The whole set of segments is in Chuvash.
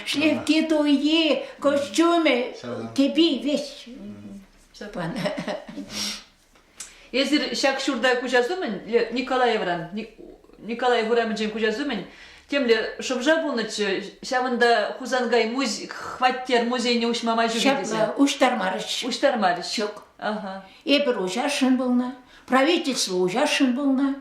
Шлепки туйи, костюмы, тепи весь Степан. Эсир ҫак ҫурта куҫас умӗн Николаевран, Николаев урамӗнчен куҫас умӗн темле шӑпша пулнӑччӗ. Ҫавӑнта Хусанкай муз... хваттер музейне уҫма май ҫук Ҫапла, уҫтармарӗҫ. Уҫтармарӗҫ. Ҫук. Ага. Эпир уҫасшӑн пулнӑ, правительство уҫасшӑн пулнӑ,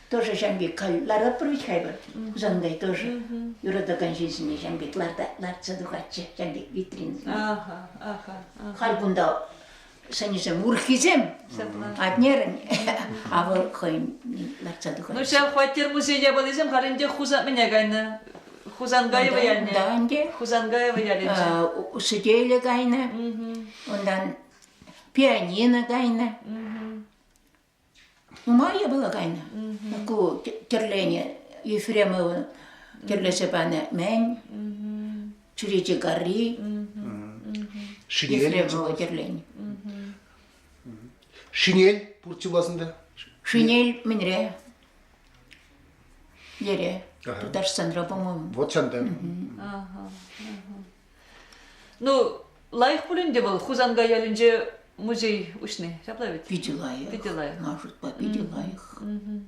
Тоже ҫамки ларатпӑр ведь хайпӑр. Сондай тоже юратакан ҫынсене ҫамки лартса тухатчӗ ҫамки витринсене. Аха, аха. Халь кунта сӑнӗсем урӑххисем, атнерӗн, а вӑл хӑйӗн лартса тухать. Ну ҫав хваттер музей япалисем халь ӗнтӗ Хусан мӗне кайнӑ? Хусангаево ялне. Да ӗнтӗ. Хусангаево ялӗнче. Усетеле кайнӑ. Унтан пианино кайнӑ. Нумай было кайнӑ. Ку тӗрлене Ефремова тӗрлесе панӑ мен чӳрече карри Шинель тӗрлен. Шинель пуртти власында? Шинель менре. Ере. Тутарстанра, по-моему. Вот чанда. Ага. Ну, лайӑх пулин те вӑл Хусанкай ялӗнче музей уҫни, ҫапла ведь? Питӗ лайӑх. Питӗ лайӑх. Ман шутпа питӗ mm-hmm. лайӑх. Mm-hmm.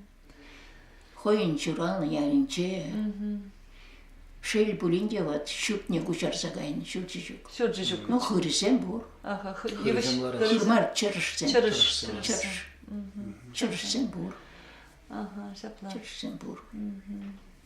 Хӑйӗн ҫуралнӑ ялӗнче. Mm-hmm. Шел пулин те, вот ҫуртне куҫарса кайнӑ ҫурчӗҫук. Ҫурчӗҫук. Ну, хырсем пур. Ага, хырмар чӑршсем. Чӑршсем. Чӑрш. Чӑршсем пур. Ага, ҫапла. Чӑршсем пур.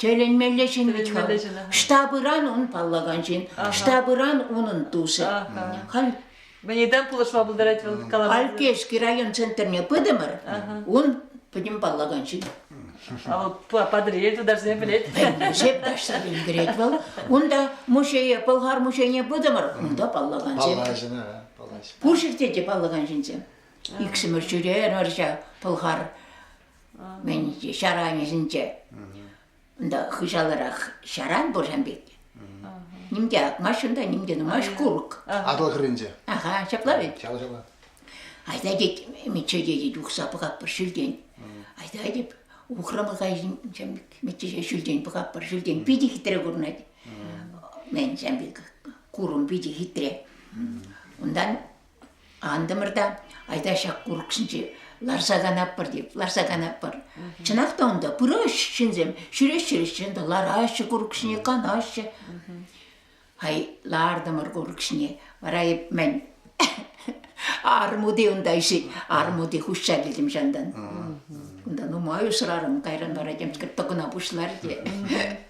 Тӗлӗнмелле ҫын вӗт-ха. Штабыран ун паллакан ҫын, штабыран унӑн тусӗ. Халь Мӗнедан пулӑшма пултарать вӑл? Калама. Алькешский район центрне пытӑмӑр. Ун пӗтӗм паллакан ҫын. А вӑл Патӑрьел тутарсем пӗлет. Шеп ташлӑ килтерет вӑл. Унта музее, Пӑлхар музейне пытӑмӑр. Унта паллакан ҫын. Паллаҫына, паллаҫ. Пуширте те паллакан ҫынсем. Иксӗмӗр ҫӳрерӗмӗр ҫак Пӑлхар мӗн ҫаран йышӗнче. Унта хыҫаларах ҫаран пур ҫам пек. Ним те акмасть унта, ним те нумасть курӑк. Атӑл хӗрринче. Аха, ҫапла вӗт. Ҫава ҫава. Айта тет, Мичче тетет, ухса пӑхатпӑр ҫӳлтен. Айта тет, ухрӑмӑха Мичче ҫӳлтен пӑхатпӑр ҫӳлтен питӗ хитре курӑнать. Мен ҫам пек курӑм питӗ хитре. Унтан Антӑмӑр та, айта ҫак курӑксенче ларса канатпӑр тейп, ларса канатпӑр. Чӑнах та унта пыраҫҫӗ ҫынсем, ҫӳреҫҫӗ ҫынсем, лараҫҫӗ курӑк ҫине, канаҫҫӗ. Ай, лартӑмӑр курӑк ҫине, вара эп мӗн армути унта ишет, армути хуҫса килтӗм ҫантан. Кунта нумай усрарӑм, кайран вара темскер тӑкӑна пуҫлар те.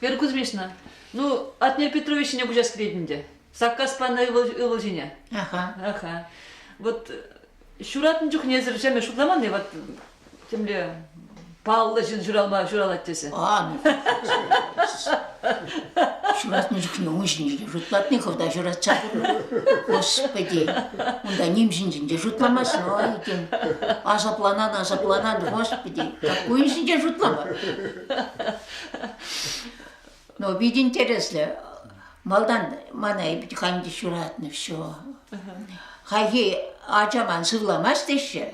Вера Кузьмична, ну, Атнер Петрович ҫине куҫас килет ӗнтӗ. Саккас панӑ ывӑл, ывӑл ҫине. Аха. Аха. Вот ҫуратнӑ чухнесӗр ҫемӗ шутламан-и? Вот темле паллӑ ҫын ҫуралма ҫуралать тесе. А, ҫуратнӑ чухне ун ҫинчен шутлатни хӑвта ҫуратса. Господи, унта ним ҫинчен те шутламасть, ой, тен, асапланан, асапланан, господи, как ун ҫинчен шутлама. Ну, питӗ интереслӗ. Малтан мана Ибтихамит ҫуратнӑ все. Хайхи ачаман сывламасть теҫҫe.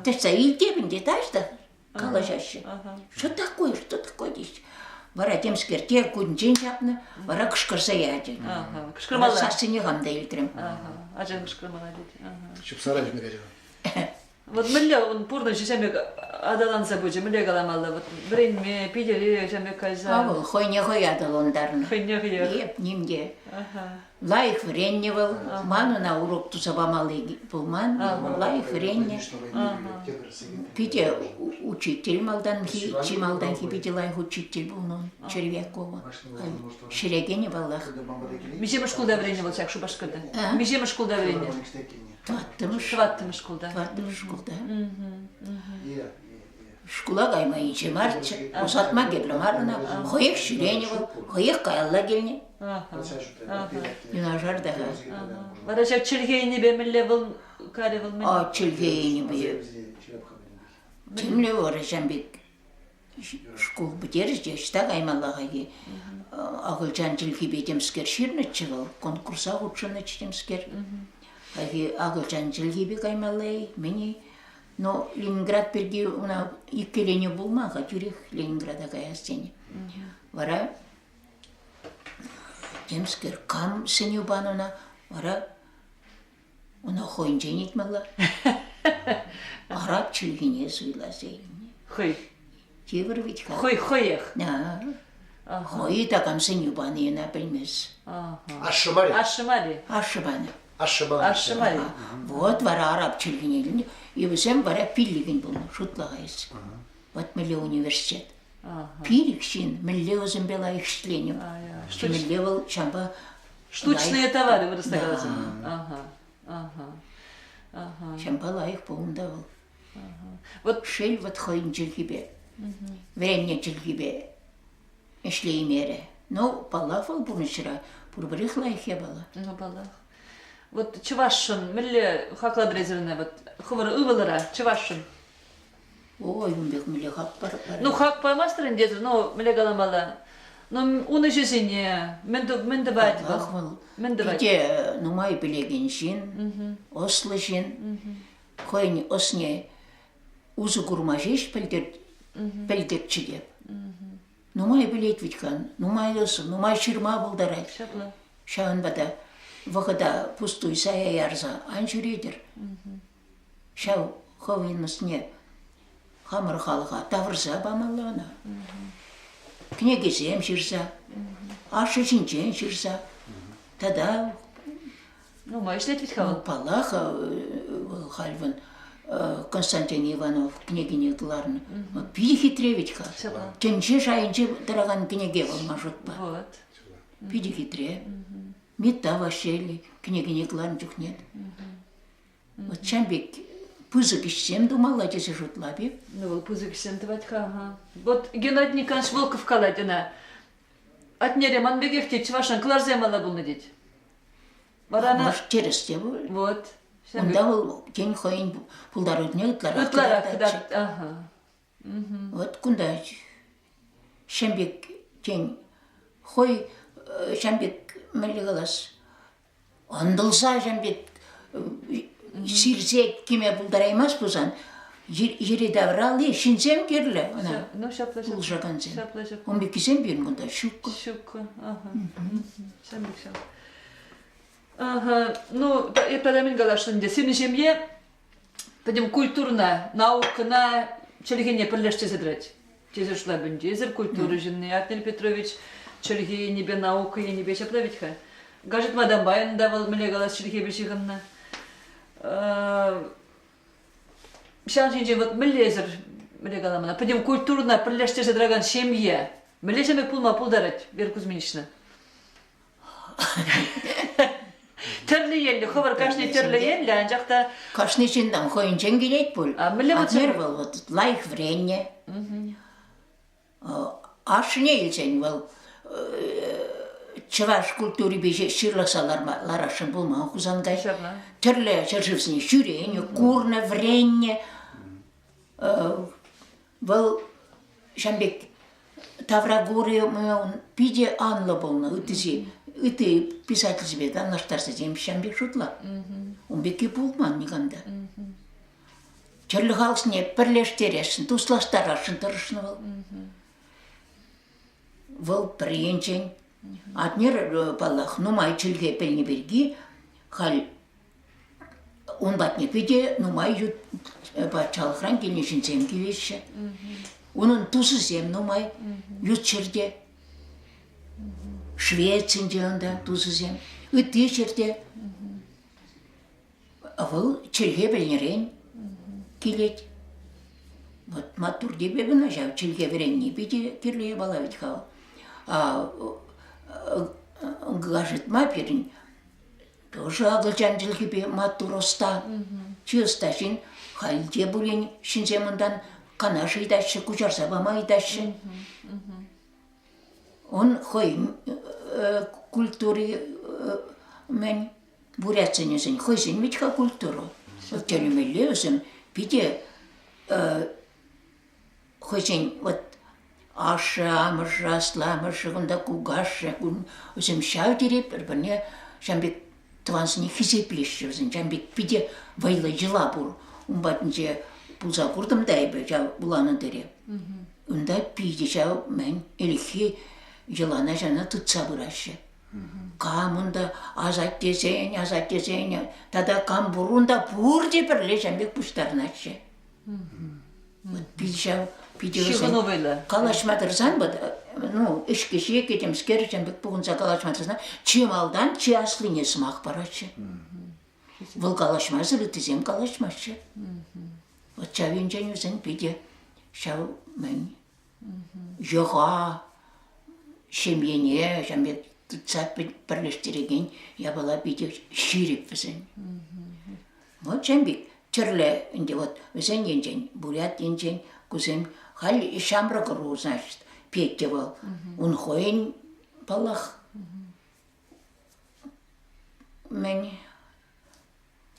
Тӗтсе илтепӗн те таҫта калаҫаҫҫe. Что такое, что такое теҫҫe. Вара темскерте кунчен ҫапнӑ, вара кӑшкӑрса ячӗ. Кӑшкӑрмалла. Сассине хам та илтрӗм. Ачан кӑшкӑрмалла тет. Ҫупсара ҫӳрере. Вот мӗнле ун пурнӑҫӗ ҫамек аталанса пычӗ, мӗнле каламалла, вот вӗренме, пилӗре ҫамек кайса. А вӑл хӑйне хӑй аталантарнӑ. Хӑйне хӑех. Эп ним те. Лайӑх вӗреннӗ вӑл. Ман ӑна урок туса памалли пулман. Лайӑх вӗреннӗ. Питӗ учитель малтанхи, чи малтанхи питӗ лайӑх учитель пулнӑ Червякова. Ҫӗлекенӗ паллах. Миҫемӗш шкулта вӗреннӗ вӑл ҫак Шупашкарта? Миҫемӗш шкулта вӗреннӗ? Тӑваттӑмӗш. Тӑваттӑмӗш шкулта. Тӑваттӑмӗш шкулта. Шкула кайма инҫе марччӗ. Усатма кирлӗ мар ӑна. Хӑех ҫӳренӗ вӑл, хӑех каялла килнӗ. Юнашар та. Вара ҫак чӗлхейнипе мӗнле вӑл карӗ вӑл мӗн? А чӗлхейнипе. Темле вӑрӑ ҫам бит. шкул пӗтерчӗ те ӑҫта каймалла-ха-и? Акӑлчан чӗлхипе темскер ҫырнӑччӗ вӑл, конкурса хутшӑннӑччӗ темскер. Хайхи акӑлчан чӗлхипе каймалла-и? Мӗн-и? Но Ленинград пирки una иккӗленӳ пулман-ха тӳрех Ленинграда каяс тени. Вара темскер кам сӗнӳ панӑна, вара Ӑна хӑйӗнчен ыйтмалла. Араб чӗлхине суйлас илнӗ. Хӑй. Тепӗр вӗт-ха. Хӑй хӑех. Хӑй такам сӗнӳ пани ӑна пӗлмест. Ашшӗ мар Ашшӗ мар Ашшӗ панӑ. Ашшӗ панӑ. Ашшӗ мар Вот вара араб чӗлхине илнӗ. И вӗсем вара пиллӗкӗн пулнӑ, шутлайс. Вот меле университет. Ирӗк ҫын мӗнле ӑшӗнпе лайӑх ӗҫленӗ, темӗнле вӑл ҫавӑнпа штучные товары вырасса каласан. Ага, ага, ага. Ҫавӑнпа лайӑх пулнӑ та вӑл. Вот шел вот хӑйӗн чӗлхипе, вӗреннӗ чӗлхипе ӗҫлеймерӗ. Ну, паллах вӑл пурнӑҫра пурпӗрех лайӑх япала. Ну, паллах. Вот чӑвашшӑн мӗнле хаклад резервне вот хӑвӑр ывӑлӑра чӑвашшӑн Ой, ун пек мӗнле хак пар. Ну хак памастӑр ӗнтӗ, ну мӗнле каламалла? Ну ун ӗҫӗсене мӗн мӗн тӑвать вӑл? Хак вӑл. Мӗн тӑвать? Питӗ нумай пӗлекен ҫын, ӑслӑ ҫын. Хӑйӗн ӑсне усӑ курма ҫеҫ пӗлтерчӗ те. Нумай пӗлет вӗт-ха, нумай ӑсӑ, нумай ҫырма пултарать. Ҫапла. Ҫавӑнпа та вӑхӑта пустуй сая ярса ан ҫӳретӗр. ҫав хӑвйӗн ӑсне хамӑр халӑха тавӑрса памалла ӑна. Кӗнекесем ҫырса, ашшӗ ҫинчен ҫырса тата Нумай ӗҫлет вӗт-ха вӑл. Ну, паллах, э, вӑл халь вӑн э, Константин Иванов кӗнекине кӑларнӑ. Вӑл питӗ хитре вӗт-ха. Ҫапла. Тӗнче шайӗнче тӑракан кӗнеке вӑл ман шутпа. Вот. Питӗ хитре. Митта Василий кӗнекине кӑларнӑ чухне чам пек пысӑк ӗҫсем тумалла тесе шутлап-и? Ну вӑл пысӑк ӗҫсем тӑвать-ха. Вот Геннадий Николаевич Волков калать ӑна. Атнере ман пекех тет, чӑвашан кӑларсем алла пулнӑ тет. Вара ӑна... Тӗрӗс те пуль. Вот. Унта вӑл тен хӑйӗн пултарулӑхне ытларах ытларах кӑтартать. Аха. Вот кунта ҫам пек тен хӑй ҫам пек мӗнле калас Ӑнтӑлсаҫӑн пек сирсе кӗме пултараймасть пулсан, йӗри-тавралли ҫынсем кирлӗ ӑна ну ҫапла ҫапла пулӑшакансем. Ҫапла ҫапла. Ун пеккисем пирӗн кунта ҫуккӑ. Ҫуккӑ. Ага. Ҫав пек ҫав. Ага. Ну, эп мӗн каласшӑн ӗнтӗ, сирӗн ҫемье пӗтӗм культурӑна, наукӑна, чӗлхене пӗрлештерсе тӑрать. Тесер шлагбаум, тесер культура ҫынни, Артнель Петрович чӗлхе енӗпе, наука енӗпе ҫапла вӗт-ха. Гаджет Мадамбайӑн та вӑл мӗнле калас чӗлхепе ҫыхӑннӑ. Ҫавӑн ҫинчен вот мӗнлесӗр мӗнле калам ӑна, пӗтӗм культурӑна пӗрлештерсе тӑракан ҫемье мӗнле ҫемье пулма пултарать Вера Кузьминична? Тӗрлӗ енлӗ, хӑвӑр кашни тӗрлӗ енлӗ, анчах та кашни ҫыннан хӑйӗнчен килет пуль. А мӗнле вот Атнер вӑл вот лайӑх вӗреннӗ. Ашшӗне илсен вӑл чӑваш культурипе ҫырлахса ларма ларасшӑн пулман Хусанкай. Тӗрлӗ ҫӗршывсене ҫӳренӗ, курнӑ, вӗреннӗ. Вӑл ҫам пек тавра кури ун питӗ анлӑ пулнӑ ыттисен, ытти писательсемпе танлаштарсасем ҫам пек шутла. Ун пекки пулман никам та. Тӗрлӗ халӑхсене пӗрлештересшӗн, туслаштарасшӑн тӑрӑшнӑ вӑл. Вӑл пӗр енчен. Атнер, паллах, нумай чӗлхе пӗлни пирки халь Ун патне питӗ нумай ют патшалӑхран килнӗ ҫынсем килеҫҫӗ. Унӑн тусӗсем нумай ют ҫӗрте. Швецинче унта тусӗсем. Ытти ҫӗрте вӑл чӗлхе пӗлнӗрен килет. Вот маттур тебе ҫав, чӗлхе вӗренни питӗ кирлӗ япала вӗт-ха. А гаджет ма пирӗн Ӑшӑ акӑлчан чӗлхипе маттур ӑста. Чи ӑста ҫын. Халӗ пулин ҫынсем унтан канаш ыйтаҫҫӗ, куҫарса пама ыйтаҫҫӗ. Он хӑй культури мӗн бурятсенӗсен хӑйсен вӗт-ха культура. Тӗлӗмелле вӗсем питӗ хӑйсен вот ашшӗ-амӑшӗ, асламӑшӗ, кунта кукашшӗ, вӗсем ҫав тери пӗр-пӗрне ҫавӑн пек тӑвансене хисеплеҫҫӗ вӗсем. Ҫавӑн пек питӗ вӑйлӑ йӑла пур. Ун патӗнче пулса куртӑм та эпӗ ҫав вуланӑ тӗле. Унта питӗ ҫав мӗн ӗлӗкхи йӑлана ҫавна тытса пыраҫҫӗ. Кам унта асаттесен, асаттесен тата кам пур унта пурте пӗрле ҫавӑн пек пуҫтарӑнаҫҫӗ. Пит ҫав питӗ вӗсен. Калаҫма тӑрсан вот, ну, ӗҫкӗҫе кӗтӗмскер пек пухӑнса калаҫма тӑрсан чи малтан чи аслине сӑмах параҫҫӗ. Вӑл калаҫмасӑр ыттисем калаҫмаҫҫӗ. Вот ҫав енчен вӗсен питӗ ҫав мӗн йӑха, ҫемьене ҫав пек тытса пӗрлештерекен япала питӗ ҫирӗп вӗсен. Вот ҫавӑн пек тӗрлӗ ӗнтӗ вот вӗсен енчен, Бурят енчен кусем халь ҫамрӑк ӑру снаҫҫӗ. Петя вӑл, ун хӑйӗн, паллах, Мӗн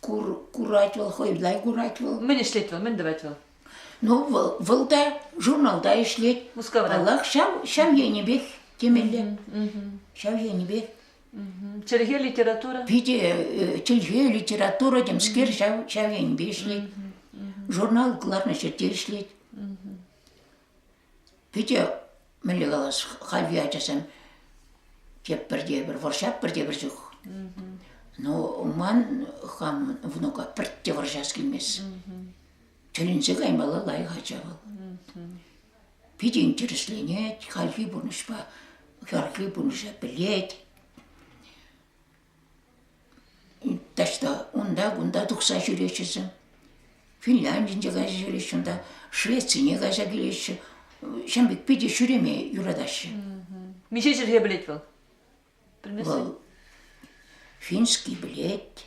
курать вӑл, хӑйла курать вӑл. Мӗн ӗҫлет вӑл, мӗн тӑвать вӑл? Ну, вӑл, вӑл та журналта ӗҫлет. Мускавра. Паллах, ҫав, ҫав енӗпех темелле. Ҫав енӗпе. Чӗлхе, литература? Питӗ чӗлхе, литература, темскер, ҫав, ҫав енӗпе ӗҫлет. Журнал кӑларнӑ ҫӗрте ӗҫлет. Питӗ мӗнле калас, хальхи ачасем тепӗр тепӗр, вӑрҫа пӗртепӗр чух. Ну, ман хам внука пӗртте вӑрҫас килмест. Тӗлӗнсе каймалла лайӑх ача вӑл. Питӗ интересленет хальхи пурнӑҫпа, хӗрхи пурнӑҫа пӗлет. Таҫта унта-кунта тухса ҫӳреҫҫӗ. Финляндинче кайса ҫӳреҫҫӗ унта, Швецине кайса килеҫҫӗ. Ҫавӑн пек питӗ ҫӳреме юратаҫҫӗ. Миҫе чӗлхе пӗлет вӑл? Вӑл финский пӗлет,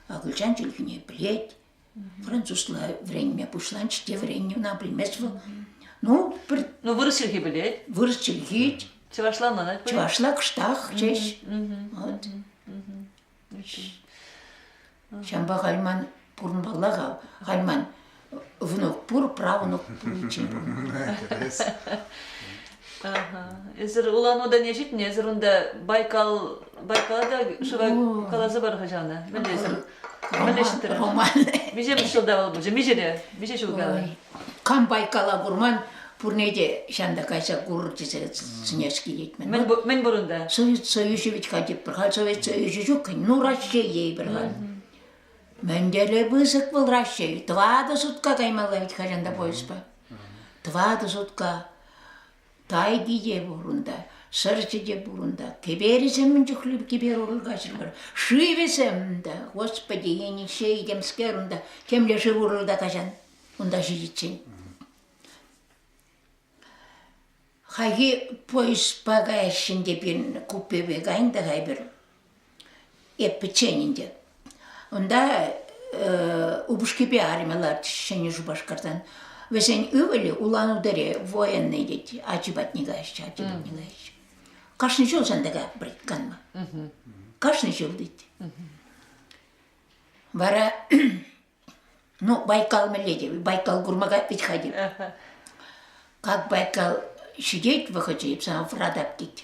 акӑлчан чӗлхине пӗлет, французла вӗренме пуҫланчӗ те вӗреннӗ ӑна пӗлмест вӑл. Ну, пӗр Ну, вырӑс чӗлхи пӗлет, вырӑс чӗлхи, чӑвашла манать пуль. чӑвашла кӑштах ҫеҫ. Мгм, Вот. Ҫавӑнпа халь ман пурӑнмалла-ха. Халь ман внук пур, правнук пуличчен пурӑнмалла. Интерес. Ага. Эсир улануда не ҫитнӗ, эсир унта Байкал, Байкала та шыва О. каласа пар хӑҫана, пӗлесӗр. Мӗлӗштрӗ. Миҫемӗш ҫулта вӑл пулчӗ? Миҫере? Миҫе ҫул кала? Кам байкала курман, пурне те ҫанта кайса курыр тесе сӗнес килет мӗн. Мӗн, мӗн пур унта? Союз союзы ведь ходит, пӗр хал Совет Союзы ҫук, ну Россия пӗр хал. Мӗнле пысӑк был Россия. Тӑватӑ сутка каймалла ведь хажанта поездпа. Тӑватӑ сутка. Тайди те пур унта, сӑрчӗ те пур унта, кӗперӗсем мӗн чухлӗ кӗпер урӑл каҫрӑмӑр, шывӗсем унта, господи, енӗкҫе этемскер унта, темле шыв урӑлта каҫан, унта ҫитиччен. Хайхи поездпа каяҫҫӗ те пирӗн купепе кайӑн та хай пӗр. Эп пӗччен ӗнтӗ. Унта упӑшкипе арӑмӗ ларчӗҫ Ҫӗнӗ Шупашкартан. Вӗсен ывӑлӗ улан-удэре военнӑй тет, ачи патне каҫчӗ, ачи патне каҫчӗ. Кашни ҫул ҫантӑка бритканма. Кашни ҫул тет. Вара, ну, Байкал мӗнле те, Байкал курмака ведь ходил. Как Байкал ҫитет вӑхӑчӗ, эп сана вратап тет.